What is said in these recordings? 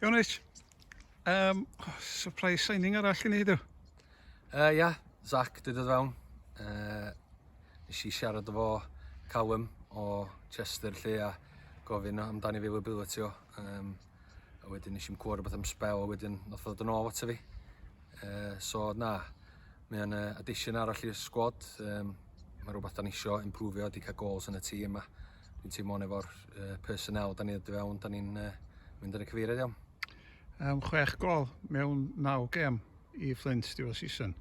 Iawn Rich, um, oh, surprise signing arall i ni heddiw. Uh, ia, yeah, Zach dwi dod fewn. Uh, nes i siarad efo Callum o Chester lle a gofyn amdani fi ability o. Um, a wedyn nes i'n cwrdd beth am spel a wedyn nath ddod yn ôl ato fi. Uh, so na, mae'n uh, addition arall i'r sgwad. Um, mae rhywbeth da ni eisiau improve o, di cael goals yn y tîm a Dwi'n teimlo hwn efo'r uh, personnel da ni'n dod i fewn, da ni'n uh, mynd yn y cyfeiriad iawn. Um, chwech gol mewn naw gem i Flint diwedd season.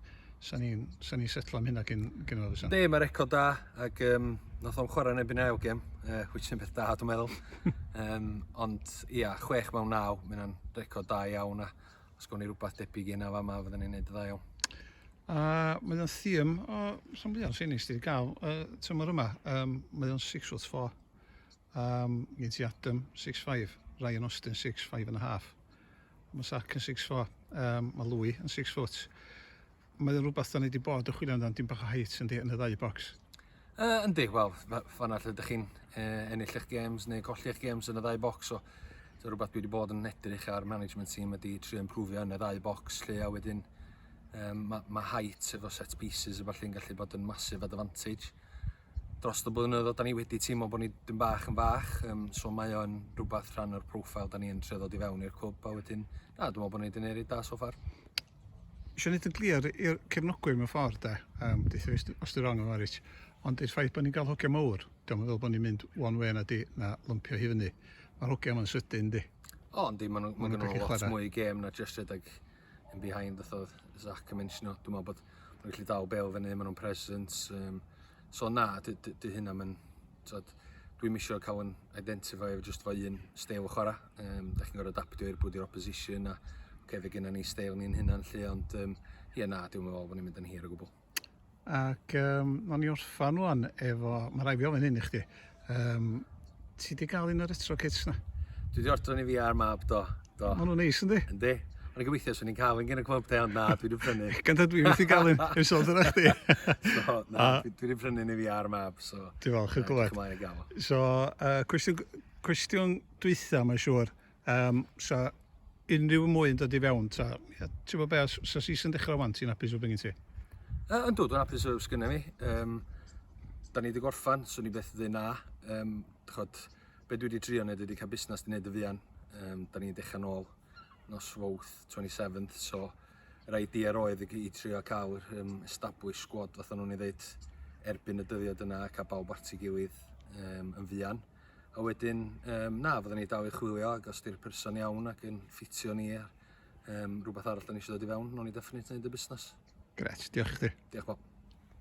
Sa'n ni'n sa ni setlo am hynna gyn, gyn o'r fysan? Be, mae record da, ac um, nath o'n chwarae neb yn ail gem, uh, which yn beth da, dwi'n meddwl. um, ond, ia, chwech mewn naw, mae'n record da iawn, a Os gawn ni rwbath debyg i hynna fama fydden ni'n neud yn dda iawn. A mae o'n thîm o rhan fwya'n ffennis di gael y tymor yma. Um, mae o'n 6 foot 4. Um, gen ti Adam 6'5, Ryan Austin 6'5 and a half. Mae Sac yn 6'4, um, mae Louis yn 6 foot. Mae o'n rhywbeth da ni wedi bod yn chwilio amdano, dim bach o height yndi, yn y ddau bocs? Uh, yndi, wel, fanna lle ydych chi'n uh, ennill eich games neu colli eich games yn y ddau bocs, so so rhywbeth dwi wedi bod yn edrych ar management team ydy trio improfio yn y ddau bocs lle a wedyn um, mae ma height efo set pieces efo lle'n gallu bod yn massive advantage dros y blynyddoedd oedden ni wedi teimlo bod ni dyn bach yn fach um, so mae o'n rhywbeth rhan o'r profile da ni'n trio ddod i fewn i'r cwb a wedyn na dwi'n meddwl bod ni wedi newid da so far Eisiau gwneud yn glir i'r cefnogwyr mewn ffordd de, um, deitha fi os dwi'n wrong yn fawr eich, ond i'r ffaith bod ni'n cael hogiau mawr, diolch yn fel bod ni'n mynd one way na di, na lympio hi fyny. Mae'r hogiau yma'n sydyn di. O, oh, yndi, mae'n ma nhw'n lot chwarae. mwy gêm na just rhedeg yn behind, oedd Zach yn mentiono. Dwi'n meddwl bod nhw'n gallu dal bel fyny, maen nhw'n presence. Um, So na, dy, dy, dy hynna mae'n... Tod, dwi'm eisiau cael yn identify efo just fo un steil o chwarae. Um, da chi'n gorfod adaptio i'r bwyd i'r opposition a okay, fe gynna ni steil ni'n hynna'n lle, ond um, ie na, dwi'n meddwl bod ni'n mynd yn hir o gwbl. Ac um, o'n i orffan rwan efo, mae rai fi ofyn hyn i chdi, Yym ti 'di ga'l un o'r retro kits 'na? Dwi 'di ordro un i fi a'r mab do, do. Ma' nw'n neis yndi? Yndi. O'n i'n gobeithio swn i'n ca'l un gin y clwb de ond na dwi 'di prynu. Gan tad dwi methu ga'l un ers ôl dod â chdi. So na dwi 'di prynu un i fi a'r mab so. Dwi falch o glywed. So yy cwestiwn cwestiwn dwytha mae'n siŵr. Um, so, unrhyw mwy yn dod i fewn, ta, ia, ti'n gwybod be, os, os oes i'n dechrau wan, ti'n apus o beth gen ti? Uh, yn dod, yn apus o beth gen i. Um, da ni wedi gorffan, swn i beth dde na. Um, chod, be dwi wedi trio wneud wedi cael busnes di wneud y fuan. Um, da ni'n dechrau nôl nos fawth 27th, so rhaid di ar oedd i trio cael um, establish squad, fatha nhw'n ei ddeud, erbyn y dyddiad yna, cael bawb at ei gilydd um, yn fuan. a wedyn um, na, fyddwn ni dal i chwilio ac os di'r person iawn ac yn ffitio ni ar um, rhywbeth arall da ni eisiau dod i fewn, nhw'n ni definit wneud y busnes. Gret, diolch i chdi. Diolch Bob.